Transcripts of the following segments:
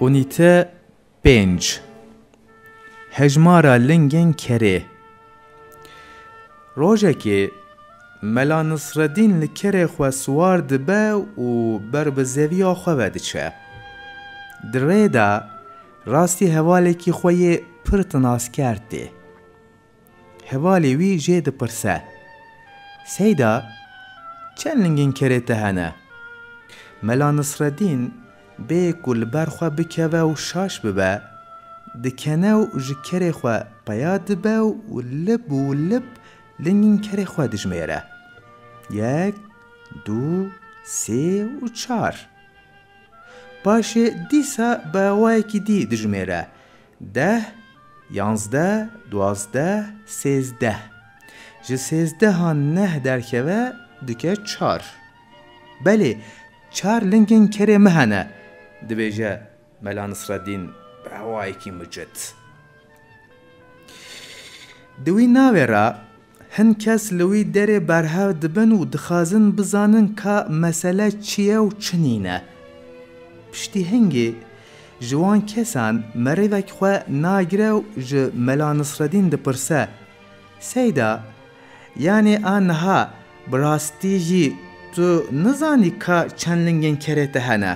Unîte pênc Hejmara lingên kerê Rojekê Mela Nisredîn li kerê xwe siwar dibe û ber bi zeviya xwe ve diçe. Di rê de rastî hevalekî xwe yê pir tinazker tê. Hevalê wî jê dipirse. Seyda, çend lingên kerê te hene? Mela Nisredîn, bê ku li ber xwe bikeve û şaş bibe, dikene û ji kerê xwe peya dibe û lib û lib lingên kerê xwe dijmêre. Yek, du, sê û çar. Paşê dîsa bi awayekî dî dijmêre, Deh, yanzdeh, duwazdeh, sêzdeh. Ji sêzdehan neh derkeve dike çar. Belê, çar lingên kerê me hene, dibêje Mela Nisreddîn bi hewayekî mucit. Di wî navê re Hin kes li wî derê berhev dibin û dixwazin bizanin ka mesele çi ye û çi nîne. Piştî hingê, ji wan kesan merivek xwe nagire û ji Mela Nisredîn dipirse, Seyda, yanê a niha bi rastî jî tu nizanî ka çend lingên kerê te hene?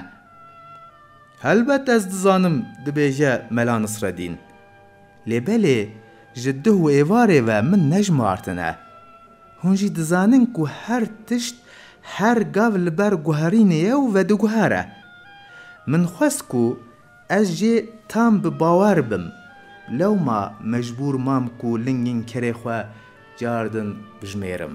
Helbet ez dizanim, dibêje Mela Nisredîn. Lê belê ji duh û êvarê ve min nejmartine. Hûn jî dizanin ku her tişt her gav li ber guherînê ye û vediguhere. Min xwest ku ez jê tam bi bawer bim, lewma mecbûr mam ku lingên kerê xwe car din bijimêrim.